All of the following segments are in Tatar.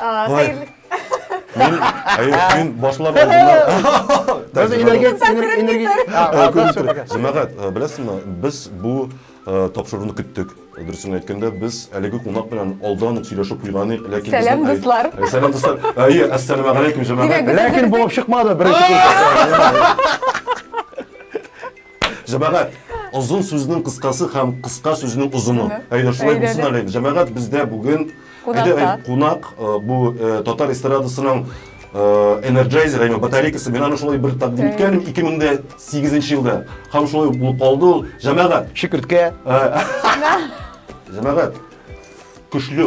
Хәерле. Мин, әйе, мин башлар алдына. Без энергет, энергет. Җәмәгать, беләсезме, без бу тапшыруны көттек. Дөресен әйткәндә, без әлеге кунак белән алдан ук сөйләшеп куйган идек, ләкин Сәлам дуслар. Сәлам дуслар. Әйе, ассаламу алейкум җәмәгать. Ләкин булып чыкмады беренче. Җәмәгать, озын сүзнең кыскасы һәм кыска сүзнең озыны. Әйдә, шулай булсын әле. Җәмәгать, бездә бүген кунак э, бу э, татар эстрадасының э, энерджайзер, яме батарейкасы. Мин аны шулай бер тәкъдим иткән 2008 елда. Һәм шулай булып калды ул. Җәмәгать. Шикерткә. Җәмәгать. Көчле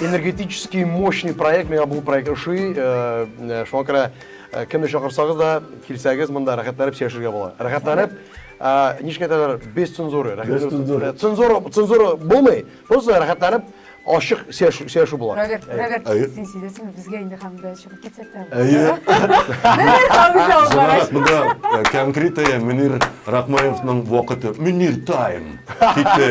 энергетический мощный проект миңа бу проект ошый э, э, шуңа күрә э, кемне чакырсагыз да килсәгез монда рәхәтләнеп сөйләшергә була рәхәтләнеп ничек әйтәләр без цензура цензура цензура цензура булмый просто рәхәтләнеп ашык сөйләшү була рәгәт рәгәт син сөйләсәң безгә инде һәм дә чыгып китсәк тә әйе конкретная мөнир рахмаевның вакыты мөнир тайм китте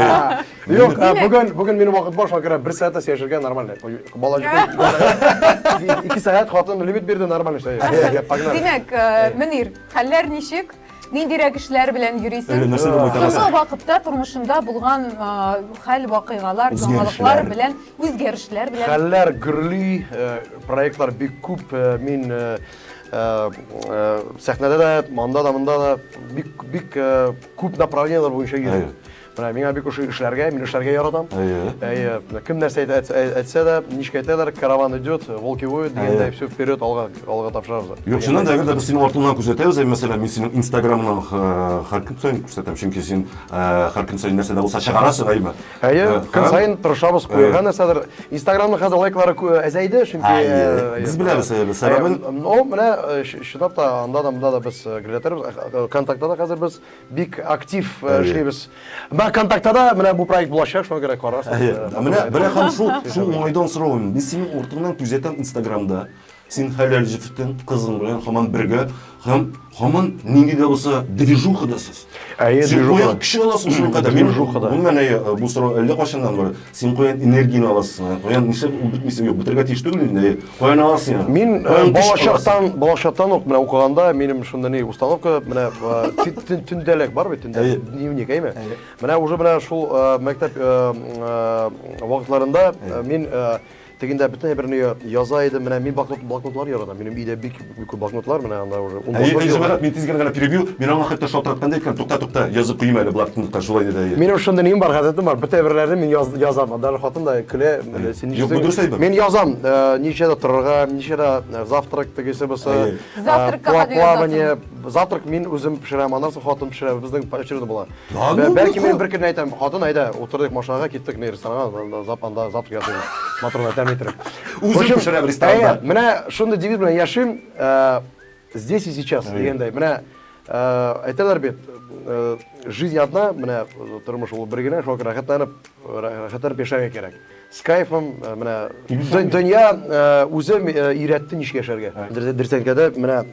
Юк, ә, Димәк- бүген бүген минем вакыт бар, шуңа күрә бер сәгать тә сөйләшергә нормально. Ой, Бала җитә. Ике сәгать хатын лимит бирде, нормально эшләй. Йә, Погнали. Димәк, э, Мөнир, хәлләр ничек? Ниндирәк эшләр белән Әле йөрисең? нәрсә дә Соңгы майтарасың. вакытта тормышында булган э, хәл, вакыйгалар, Үзгәрешләр. яңалыклар белән, үзгәрешләр белән. Хәлләр гөрли, э, проектлар бик күп. э, Мин э, э, э, сәхнәдә дә, монда да, монда да бик бик э, күп направлениеләр буенча йөрим. Әйе. Менә миңа бик ошый эшләргә, мин эшләргә яратам. Әйе. Әйе. Кем нәрсә әйтсә дә, ничек әйтәләр, караван идет, волки воют дигәндәй, все вперед, алга, алга тапшырабыз. Юк, чыннан да, әгәр дә без синең артыңнан күрсәтәбез, мәсәлән, мин синең Инстаграмыңнан һәр көн саен күрсәтәм, чөнки син һәр көн саен нәрсә дә булса чыгарасың, әйме? Әйе, көн саен тырышабыз, куярга нәрсәдер. Инстаграмның хәзер лайклары әзәйде, чөнки без беләбез сәбәбен. Ну, менә чынлап та анда да, монда да без күрсәтәбез. ВКонтактеда да хәзер без Бик актив э, Әйе. эшлибез. Менә контактада менә бу проект булачак, шуңа күрә карарсыз. Әйе. Э, Менә матур. бер хәл шул, шул уңайдан соравым. Мин синең уртыңнан күзәтәм Инстаграмда. Син хәләл җефетең, кызың белән һаман бергә һәм һаман нинди дә булса движухадасыз. Әйе, Син движухада. куян кеше аласың шуның кадәр. Мин Движухада. Гомумән, әйе, бу сорау әллә кайчаннан бар. Син каян энергияне аласың? Ә? Каян нишләп ул бетмисә? Юк, бетергә тиеш түгел инде. Каян аласың аны? Мин э, балачактан, балачактан ук менә укыганда минем шунда ни установка менә э, төндәлек бар бит инде. Дневник, әйме? Менә уже менә шул э, мәктәп вакытларында мин Тегендә бөтен әйберне я- яза идем, менә мин бакнот, блокнотлар яратам, минем өйдә бик бик күп блокнотлар, менә анда уже ун Әйе, блокнот әйе, җыелган. Җомарат, мин тиз генә генә перебью, мин аңа хәтта шалтыратканда әйткән, тукта, тукта, язып куйыйм әле блокнотка, шулай диде, әйе. Минем шундый ним бар, гадәтем бар, бөтен әйберләрне мин яз, язам, даже хатын да көлә, менә син Юк, бу дөрес әйбер. Мин язам, э, ничәдә торырга, ничәдә э, завтрак тегесе бусы, Әйе. э, Завтракка пла- кадәр плавание, завтрак мин үзем пешерәм, аннан соң хатын пешерә, безнең очередь була. Да ну, Бәлки ну, мен бер көн әйтәм, хатын әйдә, утырдык машинага, киттек не ресторанга, зап анда завтрак ясыйбыз. Моторлар тәм иттереп. Үзем пешерәм ресторанда. Менә шундый девиз белән яшим, э, здесь и сейчас дигәндәй. Менә э, әйтәләр бит, э, жизнь одна, менә тормыш ул бер генә, шуңа күрә рәхәтләнеп, рәхәтләнеп яшәргә кирәк. Скайфом э, менә дөнья э, үзе э, өйрәтте ничек яшәргә. Дөртәнкәдә менә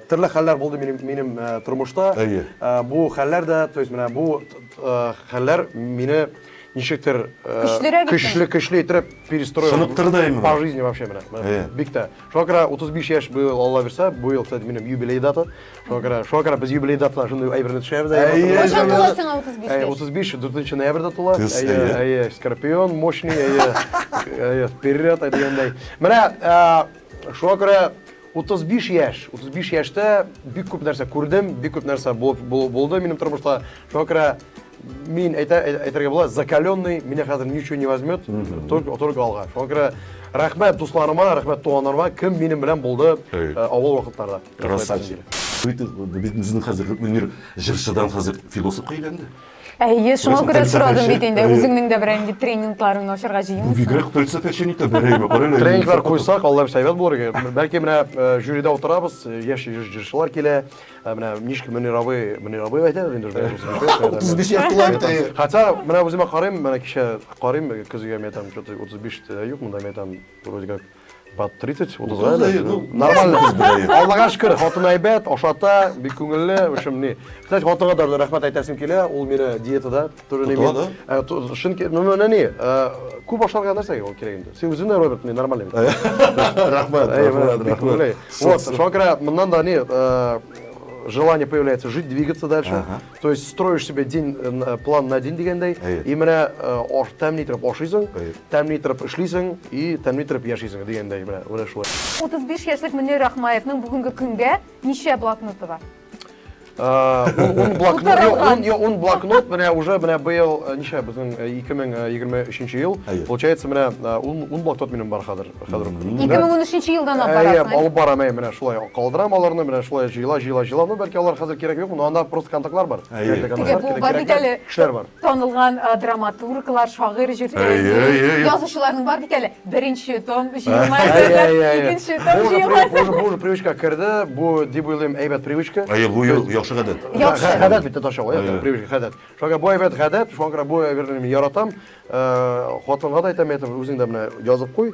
төрле хәлләр булды минем минем тормышта. Бу хәлләр дә, то есть менә бу хәлләр мине ничектер көчлерәк көчле көчле итеп перестроил. Шыныктырды именно. По жизни вообще менә. Бик тә. Шуңа күрә 35 яшь быел Алла бирсә, быел, кстати, минем юбилей дата. Шуңа күрә, шуңа күрә без юбилей датына шундый әйберне төшерәбез. Әйе, Кайчан тула сиңа 35 яшь? 35 4 ноябрьдә тула. Кыз, Әйе, әйе. әйе, скорпион мощный, әйе. Әйе, вперед дигәндәй. Менә а, шуңа күрә 35 яшь, 35 яшьтә бик күп нәрсә күрдем, бик күп нәрсә булып бу- булды минем тормышта. Шуңа күрә Мин әйтә, әйтергә була, закаленный, меня хәзер ничего не возьмет, только, только алга. Шуңа күрә рәхмәт дусларыма, рәхмәт туганнарыма, кем минем белән булды э, авыл вакытларда. Красавчик. Безнең хәзер Мөнир җырчыдан хәзер философка әйләнде. Әйе, шуңа күрә сорадым бит инде, үзеңнең дә берәр инде тренингларын ачарга җыенмыйсың. Бигрәк фәлсәфәче ни тәбәрәйме, карале. Тренинглар куйсак, Алла бирсә әйбәт булыр иде. Бәлки менә э, жюрида утырабыз, э, яшь җырчылар килә, Ә менә ничек Мөнирабый, Мөнирабый әйтәбез инде уже. 35 яшь тула бит әйе. Хотя менә үземә карыйм, менә кичә карыйм көзгегә, мин әйтәм, что-то 35 тә юк монда, мин әйтәм, вроде как под 30, 30 га әйләнде. Ну, нормально кыз бит әйе. Аллага шөкер, хатын әйбәт, ашата, бик күңелле, в общем, ни. Кстати, хатынга да рәхмәт әйтәсем килә, ул мине диетада Тоже не имеет. Тотыла, Шын керек, но она не. Күп ашарга нәрсәгә ол керек инде? Сен үзең дә Роберт, мен нормальный. Рахмат, рахмат, рахмат. Вот, шуңа күрә моннан да не, желание появляется жить, двигаться дальше. Ага. То есть строишь себе день, э, план на день дигәндәй. Әйе. И менә э, ош, тәмни торып ашыйсың, тәмни торып эшлисең и тәмни торып яшисең дигәндәй менә, менә шулай. 35 яшьлек Мөнир Рахмаевның бүгенге көнгә ничә блокноты бар? ун блокнот ун блокнот менә уже менә быел ничә безнең ике мең егерме өченче ел получается менә ун блокнот минем бар хәзер хәзер ике мең унөченче елдан алып барасың алып барам әй менә шулай калдырам аларны менә шулай җыела җыела җыела ну бәлки алар хәзер кирәк юк но анда просто контактлар бар кешеләр бар Танылган драматурглар, шагыйрь, җырчы, язучыларның бар бит әле. Беренче том җыелма әзерләр, икенче том җыелма әзерләр. Бу уже привычка керде, бу дип уйлыйм әйбәт привычка. Әйе, бу яхшы гадәт. Яхшы. Гадәт бит татарча ул, әйбәт привычка, гадәт. Шуңа бу әйбәт гадәт, шуңа күрә бу әйберне мин яратам. Хатынга да әйтәм, әйтәм, үзең дә менә язып куй.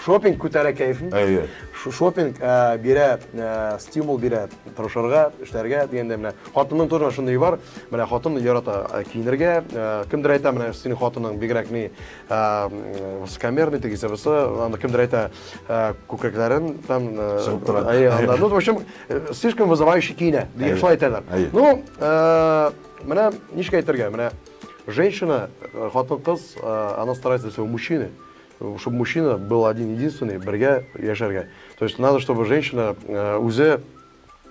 Шопинг күтәрә кәефен. Әйе. Шопинг бирә, стимул бирә тырышырга, эшләргә дигәндә менә хатынның тоже шундый бар. Менә хатын ярата киенергә. Кемдер әйтә, менә синең хатының бигрәк ни высокомерный тегесе бусы, аны кемдер әйтә күкрәкләрен там чыгып тора. Әйе, анда. Ну, в общем, слишком вызывающий киенә, дигән шулай әйтәләр. Ну, менә ничек әйтергә, менә женщина, хатын-кыз, она старается для своего мужчины. Чтобы мужчина был один единственный бергә яшәргә то есть надо чтобы женщина э, үзе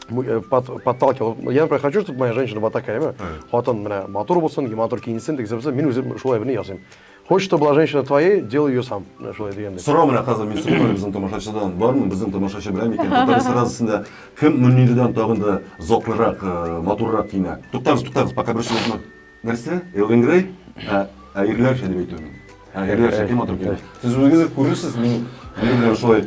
э, подталкивал я например хочу чтобы моя женщина была такая ме хатын менә матур булсын матур киенсен тегесе булсын мин үзем шулай берни ясыйм хочешь чтобы была женщина твоей делай ее сам шулай дигәндәй сорау менә хәзер мин сорыйм безнең тамашачыдан бармы безнең тамашачы беләме икән татар эстрадасында кем мөнирдән тагын да затлырак э, матуррак киенә туктагыз туктагыз пока берсе юкмы Нәрсә? Элвин Грей? Ә, ә ирләрчә дип әйтү мин. Ә ирләрчә кем матур килә? Сез үзегез күрерсез, мин минем белән шулай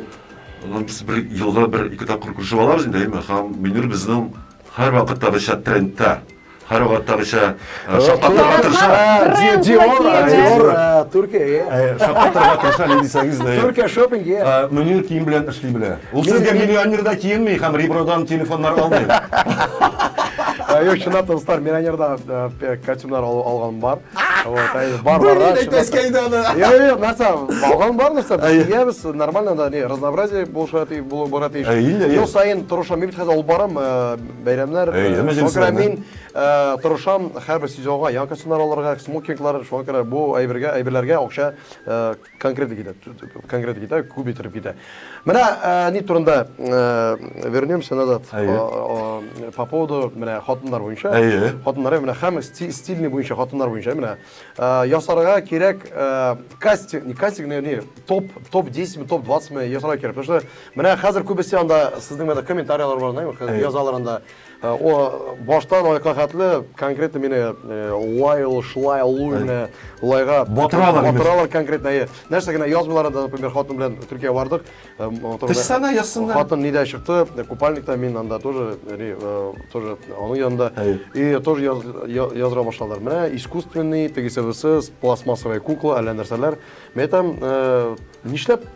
ну, без бер елга бер ике тапкыр күрешеп алабыз инде, әйме? Һәм Мөнир безнең һәрвакыттагыча трендта. Һәрвакыттагыча э, шаккатырга тырыша. Э, Диор, Диор, э, Төркия. Шаккатырга тырыша, не дисәгез дә. Төркия шопинг. Мөнир кием белән эшли белә. Ул сезгә миллионер да киенми һәм ребродан телефоннар алмый. Юк, чынлап та дуслар, миллионердан э, костюмнар алган бар. Вот, әй, бар бар. Бер әйтәскә инде аны. Йо, йо, нәрсә, алган бар нәрсә? Киябез, нормально да, не, разнообразие булыша тиеш, булып бара тиеш. Ел сайын торышам, мин хәзер алып барам, э, бәйрәмнәр. Шуңа э, мин торышам һәрбер сезонга яңа костюмнар алырга, смокинглар, шуңа күрә бу әйбергә, әйберләргә акча Конкретик итә, конкретик итә, күп иттереп китә. Менә ни турында вернемся назад. По поводу менә хатыннар буенча. Хатыннар менә һәм стильный буенча хатыннар буенча менә ясарга кирәк кастинг, не кастинг, не топ, топ 10 ме, топ 20 ме ясарга кирәк. Потому что менә хәзер күбесе анда сезнең менә комментарияләр бар, язалар анда. О, баштан аякка хәтле, конкретно мине Уайл, Шлай, Луйны, Лайга Батыралар имеш. Батыралар конкретно, әйе. Нәрсә генә язмыйлар да, например, хатын белән Төркия бардык. Тышсана язсыннар. Хатын нидә чыкты, купальникта мин анда тоже, тоже аның янында. И тоже языра башладылар. Менә искусственный, тегесе-бысы, пластмассовая кукла, әллә нәрсәләр. Мен әйтәм, нишләп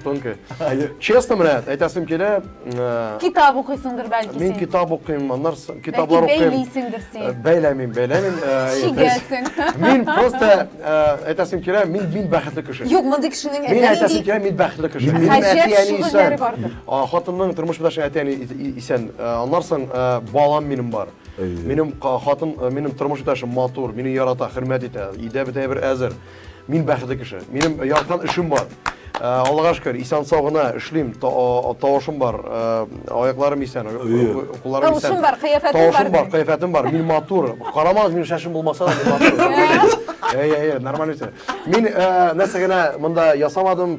Тонкая. Честно менә, әйтәсем килә. Э, китап укыйсыңдыр бәлки син. Мин китап укыйм, аннар китаплар укыйм. Бәлки бәйлисеңдер син. Э, бәйләмим, бәйләмим. Э, Шигәсең. Мин просто әйтәсем килә, мин мин бәхетле кеше. Юк, мондый кешенең әтәне. Мин әйтәсем килә, мин бәхетле кеше. Мин әтиәни исән. Хатынның тормыш белән әтиәни исән. Аннар соң балам минем бар. Минем хатын, минем тормыш иптәшем матур, мине ярата, хөрмәт итә, өйдә бөтен бер әзер. Мин бәхетле кеше. Минем яраткан эшем бар. Э, Аллага шөкер, исән сау гына эшлим, тавышым бар, э, аякларым исән, кулларым исән. Тавышым бар, кыяфәтем бар. Тавышым бар, кыяфәтем бар. Мин матур. Карамагыз, минем шашым булмаса да, мин матур. Әй, әй, әй, нормально үсә. Мин э, нәрсә генә монда ясамадым,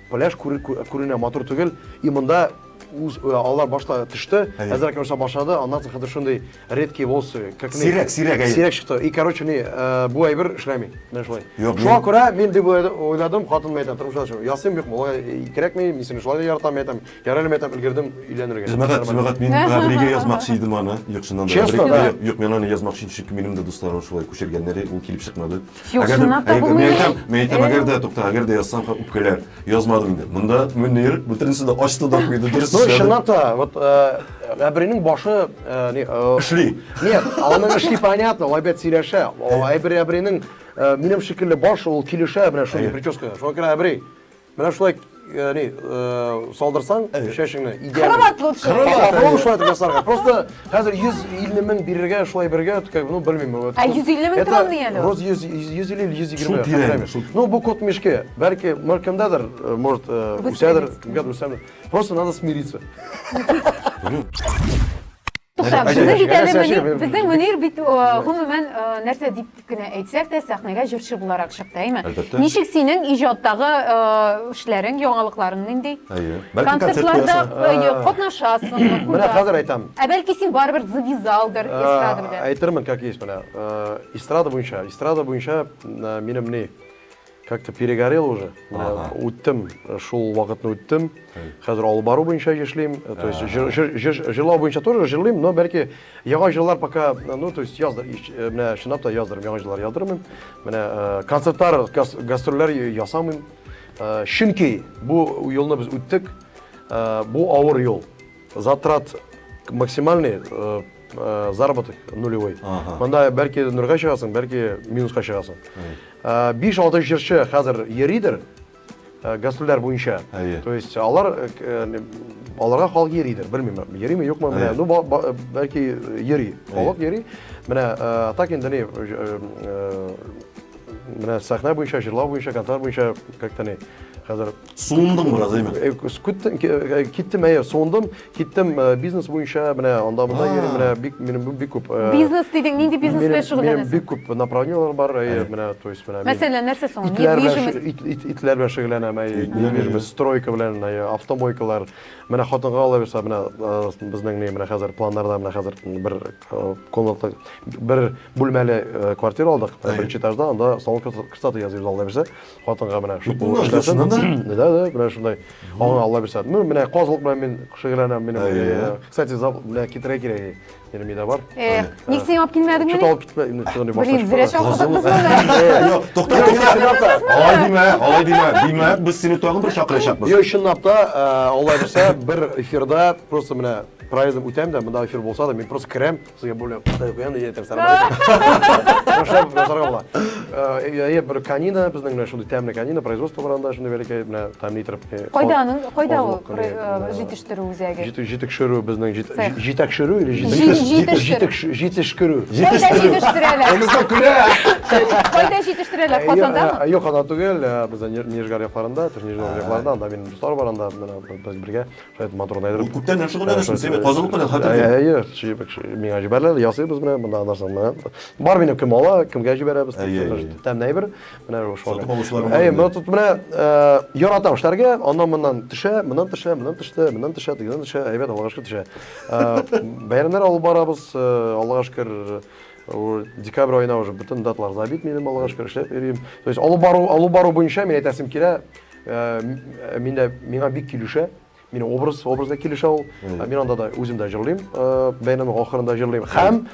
Пляж күренә матур түгел, и монда үз э, алар башта төште, әзрәк нәрсә башлады, аннан соң хәзер шундый редкие волосы, как сирәк, сирәк, сирәк чыкты. И короче, не, э, бу әйбер эшләми, менә шулай. Шуңа күрә мин дип уйладым, хатыным әйтә, тормышта чыгып, ясыйм юк, моңа э, кирәкми, мин сине шулай яратам, әйтәм, ярале мәйтәм, өлгердем өйләнергә. Җәмәгать, җәмәгать, мин Габригә язмакчы идем аны, юк, чыннан да. Честно, да. Юк, мин аны язмакчы идем, чөнки минем дә дусларым шулай күчергәннәр, ул килеп чыкмады. Юк, Әгәр дә- чынлап та әгәр дә- булмый. Мин әйтәм, мин әйтәм, Э. әгәр дә, тукта, әгәр дә язсам, ха, үпкәләр. Язмадым инде. Монда Мөнир бөтенесе дә ачты да куйды, дөрес Ну, эшләде. чынлап та, вот э, Әбринең башы... э, не, э, Эшли. Нет, аның эшли понятно, ул әйбәт сөйләшә. Ул Әбри Әбринең э, минем шикелле башы, ул килешә менә шундый Әйе. прическа. Шуңа күрә Әбри, Менә шулай, яни, салдырсаң чәчеңне, идеально. Кровать лучше. Кровать. Попробуй шулай итеп ясарга. Просто хәзер 150 мең бирергә, шулай бергә, как бы, ну, белмим. Ә 150 мең тора мени әле? Рус 100, 100 или 120. Шул тирән. Ну, бу кот мешке. Бәлки, мөр кемдәдер, может, үсәдер, кемгәдер үсәдер. Просто надо смириться. Туктап, Нәрсә- безнең бит әле нәрсә- Мөнир, нәрсә- безнең Мөнир бит о, гомумән о, нәрсә дип кенә әйтсәк тә сәхнәгә җырчы буларак чыкты, әйме? Әлбәттә. Ничек синең иҗаттагы о, эшләрең, яңалыкларың нинди? Әйе. Бәлки концерт Концертларда куясың. әйе, катнашасыңмы? Менә куясың? хәзер әйтәм. Ә бәлки син барыбер завязалдыр эстрада белән. Ә, Әйтермен, как есть менә. Э, Эстрада буенча, эстрада буенча э, минем ни? Как то перегорел уже. Ага. Үттем, шул вакытны үттем. Хәзер алып бару буенча эшлим. То есть җыр- җыр- җыр- җырлау буенча тоже җырлыйм, но бәлки яңа җырлар пока, ну, то есть язды, ич- э, менә чынлап та яздырым, яңа җырлар яздырмыйм. Менә э, концертлар, гас- гастрольләр ясамыйм. Э, Чөнки бу юлны без үттек. Э, Бу авыр юл. Затрат максимальный, э, э, заработок нулевой. Ага. Монда бәлки нурга чыгасың, бәлки минуска чыгасың. Ә, 5-6 җырчы хәзер йөридер э, гастрольләр буенча. Әйе. То есть алар э, к- э, не- аларга халык йөридер, белмим, йөриме, юкмы, менә, Әйе. ну ба- ба- бәлки йөри, халык йөри. Менә э, так инде не э, э, менә сәхнә буенча, җырлау буенча, концерт буенча как-то не хәзер Суындың бераз, әйме? Э, Күттем, э, киттем, әйе, суындым, киттем э, бизнес буенча, менә анда монда йөрим, менә бик минем бик күп. Бизнес дидең, нинди бизнес белән шөгыльләнәсең? Минем бик күп направлениеләр бар, әйе, менә, то есть менә. Мәсәлән, нәрсә соң? Недвижимость. Итләр белән шөгыльләнәм, әйе, недвижимость, стройка белән, әйе, автомойкалар. Менә хатынга ала бирсә, менә безнең менә хәзер планнарда менә хәзер бер комната, бер бүлмәле квартира алдык, беренче этажда, анда салон красоты язып алды бирсә. хатынга менә шул Бөтен нуждасына да? Да, да, менә шундай. Аңа Алла бирсә. Ну, менә казылык белән мин шөгыльләнәм, минем. Әйе. э, Кстати, зап- менә китерә кирәк. Минем өйдә бар. Эх, ник син алып килмәдең Что-то мени? алып китмә, инде төгәне башта Блин, зря чыгар. чакырдык без моны. Юк, тукта, Юк, тукта. чынлап та. Алай димә, алай димә. Димәк, без сине тагын бер чакырачакбыз. Йо, чынлап та, э, Алла бирсә, бер эфирда просто менә проездым үтәм дә, монда эфир булса да, мин просто керәм, Су я более кытай куям, я әйтәм, сәлам алейкум. Башлап язарга була. Әйе, бер канина, безнең менә шундый тәмле канина, производство бар анда, шундый бәләкәй, менә тәмле итеп. Кайда аның, кайда ул җитештерү үзәге? Җитештерү безнең җитәкшерү или җитештерү? Җитештерү. Кайда җитештерәләр? Анысы көлә. Кайда җитештерәләр? Казандамы? Юк, анда түгел, безнең Нижгар якларында, Нижгар якларында, анда минем дуслар бар, анда без бергә. Хәзер матур гына әйдереп. Ул күптән белән шөгыльләнәсең, син бит казылык белән хәтер белән. Әйе, чебек, миңа җибәрелә, ясыйбыз менә мондагы нәрсәне менә. Бар минем кем ала, кемгә җибәрәбез дип, тәмле әйбер. Менә шулай. Сатып алучылар бар. Әйе, менә тут менә яратам эшләргә, аннан моннан төшә, моннан төшә, моннан төште, моннан төшә, дигән төшә, әйбәт, Аллага шөкер төшә. Бәйрәмнәр алып барабыз, Аллага шөкер, декабрь аена уже бөтен даталар забит минем, Аллага шөкер, эшләп йөрим. То есть алып бару, алып бару буенча мин әйтәсем килә, Мин дә, миңа бик килешә. Мин образ, образ да килешә ул. Мин анда да үзем дә җырлыйм, бәйрәм ахырында җырлыйм. Һәм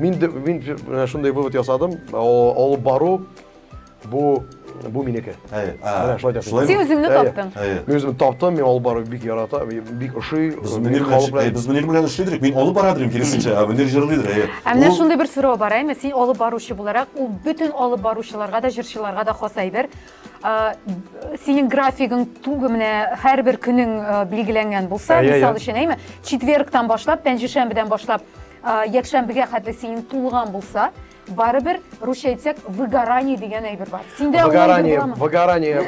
мин дә, мин шундый вывод ясадым, алып бару бу, бу минеке. Менә шулай да. Син үзеңне таптың. Мин үземне таптым, мин алып бару бик ярата, бик ошый. Без Мөнир белән, без Мөнир белән эшли идек, мин алып бара идем, киресенчә, ә Мөнир җырлый иде. Ә менә шундый бер сорау бар, әйме, син алып баручы буларак, ул бөтен алып баручыларга да, җырчыларга да хас әйбер. синең графигың тугы менә һәрбер көнең билгеләнгән булса мисал өчен әйме четвергтан башлап пәнҗешәмбедән башлап якшәмбегә хәтле синең тулган булса барыбер русча әйтсәк выгорание дигән әйбер бар синдә выгорание выгорание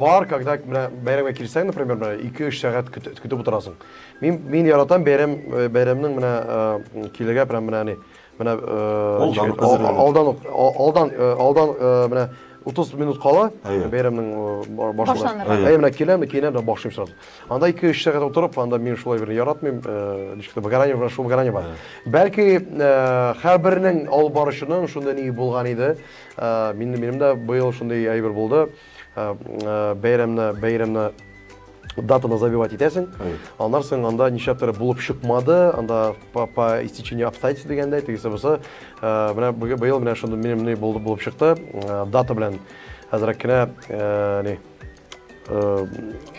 бар когда менә бәйрәмгә килсәң например менә ике өч сәгать көтеп утырасың мин мин яратам бәйрәм бәйрәмнең менә килергә прям менә Менә алдан ук, алдан, алдан менә 30 минут кала бәйрәмнең башланырга. Әйе, менә киләм, киенәм дә башлыйм сразу. Анда 2-3 сәгать утырып, анда мин шулай бер яратмыйм, ничек тә выгорание белән шул выгорание бар. Бәлки һәрбернең алып баручының шундый ни булган иде. Минем дә быел шундый әйбер булды. бәйрәмне бәйрәмне датаны забивать итәсең аннан соң анда нишләптер булып чыкмады анда по, по истечению обстоятельств дигәндәй тегесе бусы менә быел менә шундый минем ни булды булып чыкты дата белән әзрәк кенә ни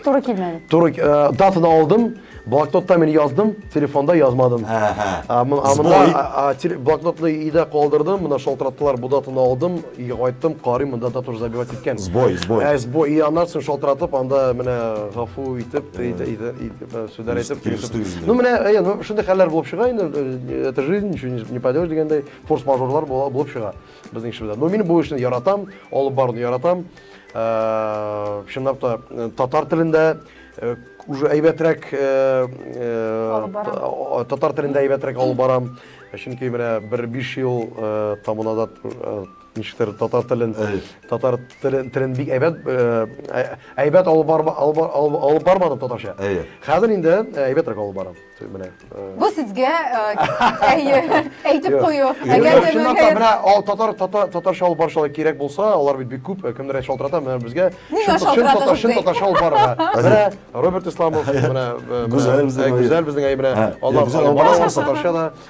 Туры килмәде. Туры э, датаны алдым, блокнотта мин яздым, телефонда язмадым. Ә мына блокнотны өйдә калдырдым, мына шалтыраттылар, бу датаны алдым, өйгә кайттым, карыйм, монда дата забивать иткән. Сбой, сбой. Ә сбой, и аннан соң шалтыратып, анда менә гафу итеп, сүзләр әйтеп, Ну менә, ну шундый хәлләр булып чыга инде, э, это жизнь, ничего не поделаешь дигәндәй, форс-мажорлар булып чыга безнең эшебездә. Но мин бу эшне яратам, алып баруны яратам. чынлап та татар телендә уже әйбәтрәк татар телендә әйбәтрәк алып барам чөнки менә бер биш ел табын азат ничектер татар телен татар телен бик әйбәт әйбәт алып бармадым татарча хәзер инде әйбәтрәк алып барам Менә. Бу сезгә әйе, әйтеп кую. Әгәр дә чынлап та менә татар татар татарча алып барышалар кирәк булса, алар бит бик күп, кемнәр шалтырата, менә безгә чын татарча алып барырга. Менә Роберт Исламов, менә Гүзәл безнең әйе, менә. Алар барышалар татарча да.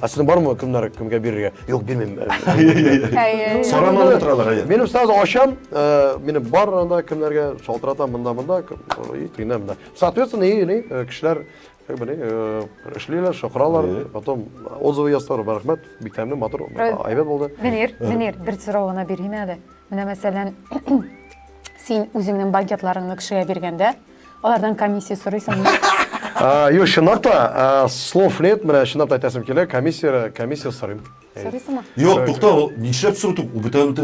Ә сезнең бармы кемнәр кемгә бирергә? Юк, бирмим. Сорамалар торалар, әйе. Минем сразу ачам, э, минем бар анда кемнәргә шалтыратам монда монда, и тегенә монда. Соответственно, и ни э, кешеләр как бы ни э, эшлиләр, шакыралар, потом отзывы язсалар, рәхмәт, бик тәмле, матур, әйбәт булды. Мөнир, Мөнир, бер сорау гына бирим әле. Менә мәсәлән, син үзеңнең банкетларыңны кешегә биргәндә, Алардан комиссия сорыйсыңмы? Юк, чынлап та, слов нет, менә чынлап та әйтәсем килә, комиссия, комиссия сорыйм. Сорыйсыңмы? Юк, тукта, нишләп сорыйсың? Ул бүтән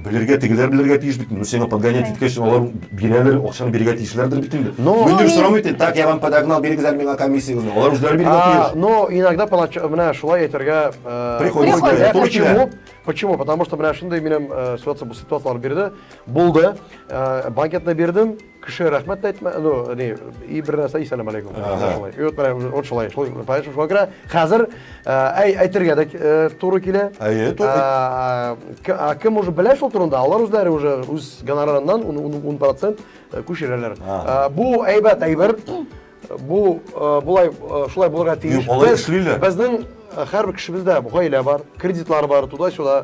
белергә, тегеләр белергә тиеш бит. Ну, сиңа подгонять иткәч, алар бирәләр, акчаны бирергә тиешләрдер бит инде. Ну, инде сорам итә, так, я вам подогнал, бирегез әле миңа комиссияне. Алар үзләре бирергә тиеш. Ну, иногда понач, менә шулай әйтергә, приходится. Почему? Почему? Потому что менә шундый минем ситуация, бу ситуацияләр бирде. Булды. Банкетны бирдем, Кеше рәхмәт тә әйтмә, ну, ни, и бер нәрсә и сәлам алейкум. Шулай. И вот менә вот шулай, шулай, понимаешь, шулай керә. Хәзер әй әйтергә дә туры килә. Әйе, туры. Кем уже белә шул турында, алар үзләре уже үз гонорарыннан 10% күчерәләр. Бу әйбәт әйбер. Бу болай шулай булырга тиеш. Алар эшлиләр. Безнең һәрбер кешебездә гаилә бар, кредитлар бар, туда-сюда.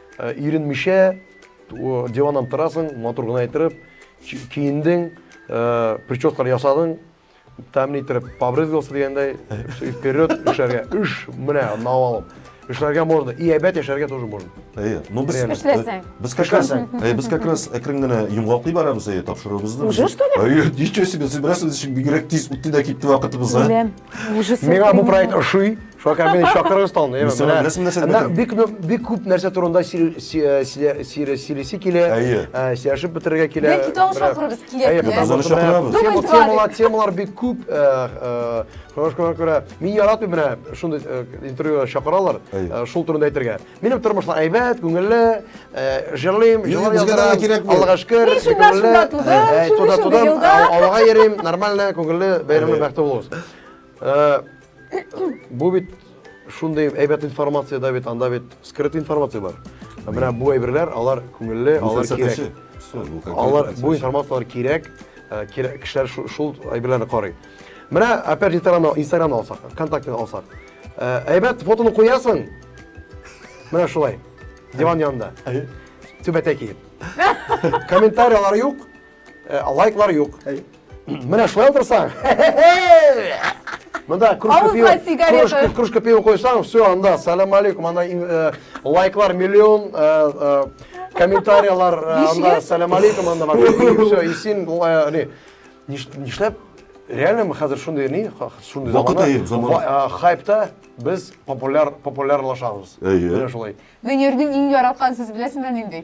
Ә, иренмичә, диваннан торасың, матур гына иттереп, киендең, ә, прическалар ясадың, тәмле иттереп побрызгался дигәндәй, вперед эшләргә. Үш, менә, навалым. Эшләргә можно, и әйбәт яшәргә тоже можно. Әйе, ну без... Эшләсәң. Без как раз, әйе, без как раз әкрен генә йомгаклый барабыз, әйе, тапшыруыбызны. Уже что ли? Әйе, ничего себе, сибрәсебез өчен бигрәк тиз үтте дә китте вакытыбыз, а? Үләм, уже... Миңа бу проект ошый. Шакар менен шакырыңыз талны. Без сиңа нәрсә нәрсә әйтәм? Бик бик күп нәрсә турында сөйләсе килә. Сөйләшеп бетерергә килә. Бәлки тагын шакырыбыз килә. Әйе, тагын шакырабыз. Темалар, темалар бик күп. Шуңа күрә мин яратмыйм менә шундый интервьюга чакыралар. Шул турында әйтергә. Минем тормышлар әйбәт, күңелле, җырлыйм, җырлар язарга кирәк. Аллага шөкер, күңелле. Туда-туда, авылга йөрим, нормально, күңелле, бәйрәмле, бәхетле булыгыз. Э, бу бит шундый әйбәт информация да бит, анда бит скрыт информация бар. Ә менә бу әйберләр, алар күңелле, алар кирәк. Алар бу информацияләр кирәк, э, кирәк кешеләр шул әйберләрне карый. Менә опять же Инстаграмны, Инстаграмны алсак, ВКонтактены алсак. Э, әйбәт фотоны куясың. Менә шулай. Диван янында. Түбәтә киеп. Комментариялар юк. Э, лайклар юк. Менә шулай утырсаң. Мында кружка пива, кружка, кружка пива койсаң, все, анда, салам алейкум, анда э, лайклар миллион, э, э, комментариялар, анда, салам алейкум, анда, и все, и син, не, нишләп, реально мы хәзер шундый, не, шундый заманда, хайпта, без популяр, популярлашабыз. Әйе. Менә шулай. Венерның иң яраткан сүз беләсеңме нинди?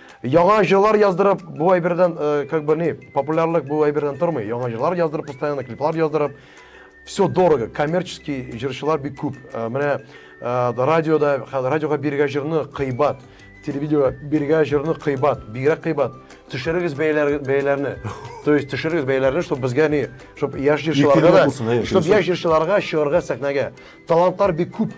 Яңа җырлар яздырып, бу әйбердән, э, как бы ни, популярлык бу әйбердән тормый. Яңа җырлар яздырып, постоянно клиплар яздырып. Все дорого, коммерческий җырчылар бик күп. Э, менә э, радиода, хә- радиога биргә җырны кыйбат, телевидеога биргә җырны кыйбат, бигрәк кыйбат. Төшерегез бәяләр, бәяләрне. То есть төшерегез бәяләрне, чтобы безгә ни, чтобы яшь җырчыларга Иркенлек да, булсын, әйе, чтобы дөрес. яшь җырчыларга чыгарга сәхнәгә. Талантлар бик күп.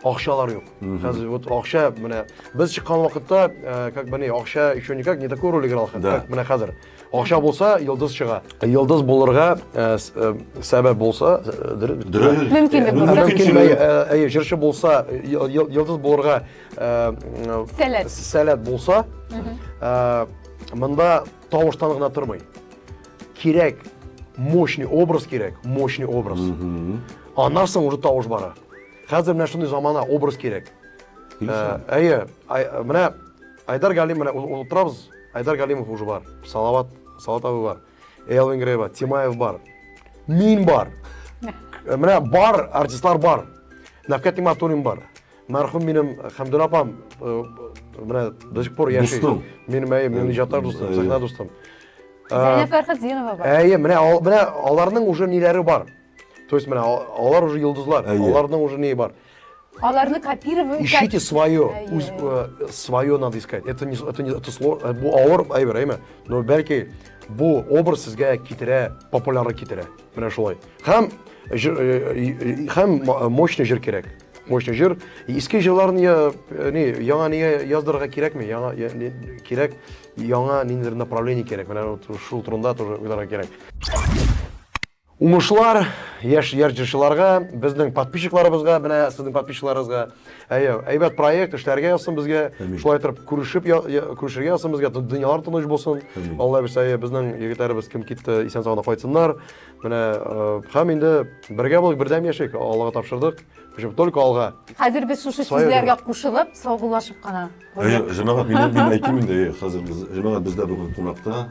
Акчалар юк. Хәзер вот акча менә без чыккан вакытта, э, как бы не, акча еще никак не такую роль играл, Да. как менә хәзер. Акча булса, йолдыз чыга. Йолдыз булырга э, с- э, сәбәп булса, э, дөрес бит. Дөрес. Мөмкинлек Э, булса. мөмкинчелек. Мөмкинчелек. Э, Әйе, җырчы булса, э, йыл- йыл- йолдыз булырга э, э, Сәләт. сәләт булса, э, монда Тавыштан гына тормый. Кирәк мощный образ кирәк, мощный образ. Аннан соң уже тавыш бара. Хәзер менә шундый замана образ кирәк. Ә, әйе, менә Айдар Галим менә утырабыз. Айдар Галимов уже бар. Салават, Салават абый бар. Элвин Грей бар, Тимаев бар. Мин бар. Э, менә бар, артистлар бар. Навкат Иматуллин бар. Мәрхүм минем Хәмдүл апам менә до сих пор яши. Дустым. Минем әйе, минем иҗаттар дустым, сәхнә дустым. Зәйнәб Фәрхетдинова бар. Әйе, менә менә аларның уже ниләре бар. То есть менә алар уже йолдызлар, аларның уже не бар. Аларны копировать Ищите свое, э, свое надо искать. Это не, это не, это сложно, э, бу авыр әйбер, әйме? Но бәлки бу образ сезгә китерә, популярлык китерә. Менә шулай. Һәм э, һәм мощный җыр кирәк. Мощный җыр. Иске җырларны я, э, ни, яңа нигә яздырырга кирәкме? Яңа я, ни, кирәк, яңа ниндидер направление кирәк. Менә вот шул турында тоже уйларга кирәк. Умышлар яшь яр җырчыларга, безнең подписчикларыбызга, менә сезнең подписчикларыгызга. Әйе, әйбәт проект эшләргә язсын безгә. Әмин. Шулай торып күрешеп я- я- күрешергә язсын безгә. Дөньялар тыныч булсын. Әмин. Алла бирсә, әйе, безнең егетләребез кем китте, исән-сау гына кайтсыннар. Менә һәм инде бергә булык, бердәм яшик, Аллага тапшырдык. Һәм только алга. Хәзер без шушы сүзләргә кушылып, саубуллашып кына. Әйе, җәмәгать, мин мин әйтим инде, хәзер без җәмәгать бездә бүген кунакта,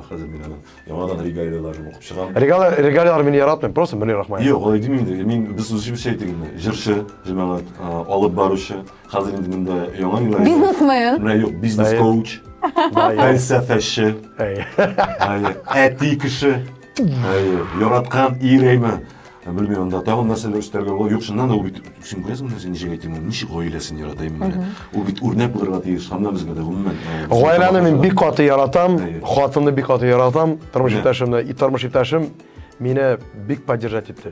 хәзер мин аны яңадан регалияләрен укып чыгам. Регалияләр, регалияләр мине яратмый, просто Мөнир Рахмаев. Юк, алай димим инде. Мин без үзебезчә әйтик инде. Җырчы, җәмәгать, алып баручы. Хәзер инде монда яңа юллар. Бизнесмен. Менә юк, бизнес коуч, фәлсәфәче, әти кеше, яраткан ирейме? Белмим, анда тагын нәрсәләр өстәргә була. Юк, шуннан да ул бит син күрәсең нәрсә ничек әйтим, ничек гаиләсен яратайм менә. Ул бит үрнәк булырга тиеш, һәм безгә дә гомумән. Гаиләне мин бик каты яратам, хатынны бик каты яратам, тормыш иптәшемне, тормыш иптәшем мине бик поддержать итте.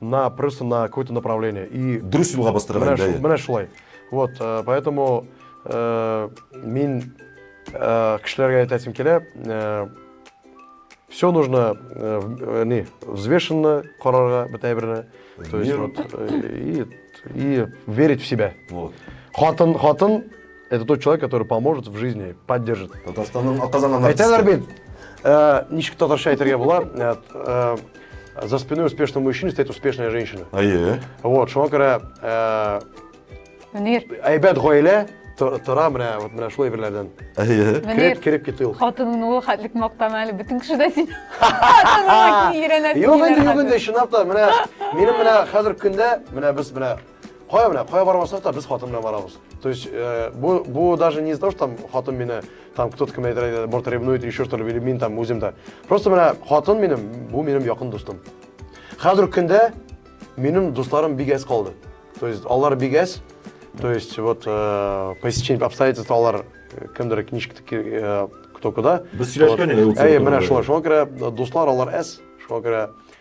на просто на какое то направление и дөрес юлга бастырган менә шул менә шулай вот э, поэтому э, мин э, кешеләргә әйтәсем килә все нужно не взвешенно карарга бөтә берне то есть вот и и верить в себя вот хатын хатын Это тот человек, который поможет в жизни, поддержит. Татарстанның атказанган Әйтәләр бит. Э, ничек татарча әйтергә була? Э, э, за спиной успешного мужчины стоит успешная женщина. Әйе. Вот, шуңа күрә Мөнир. Әйбәт гаилә тора менә вот менә шулай берләрдән. Әйе. Кереп кереп китте ул. Хатының ул хәтлек мактама әле бөтен кеше дә син. Хатының иренә. Юк инде, юк инде, чынлап та менә минем менә хәзер көндә менә без менә Кая менә, кая бармасак та без хатын белән барабыз. То есть, э, бу, бу даже не из-за того, что там хатын мине, там кто-то кем әйтер, борт ревнует или еще что ли, или мин там үзем дә. Просто менә хатын минем, бу минем якын дустым. Хәзер көндә минем дусларым бик әз калды. То есть, алар бик әз. То есть, вот, э, по стечению обстоятельств алар э, кемдер книжка э, кто куда. Без сөйләшкән инде. Әйе, менә шулай. Шуңа күрә дуслар алар әз. Шуңа күрә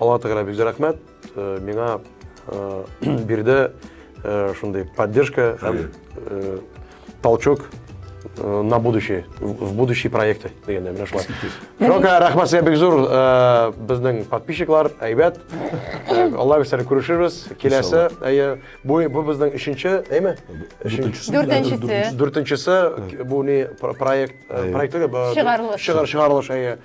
Алла Тәгалә бик рәхмәт. Э, миңа э, бирде э, шундый поддержка һәм толчок на будущее, в будущие проекты дегенде менә шулай. Шока, рәхмәт сезгә бик зур. Безнең подписчиклар әйбәт. Алла бирсә күрешербез. Киләсе, әйе, бу бу безнең 3-нче, әйме? 3-нчесе. 4-нчесе. 4-нчесе бу не проект, проектлыгы, чыгарылыш. Чыгарылыш, әйе.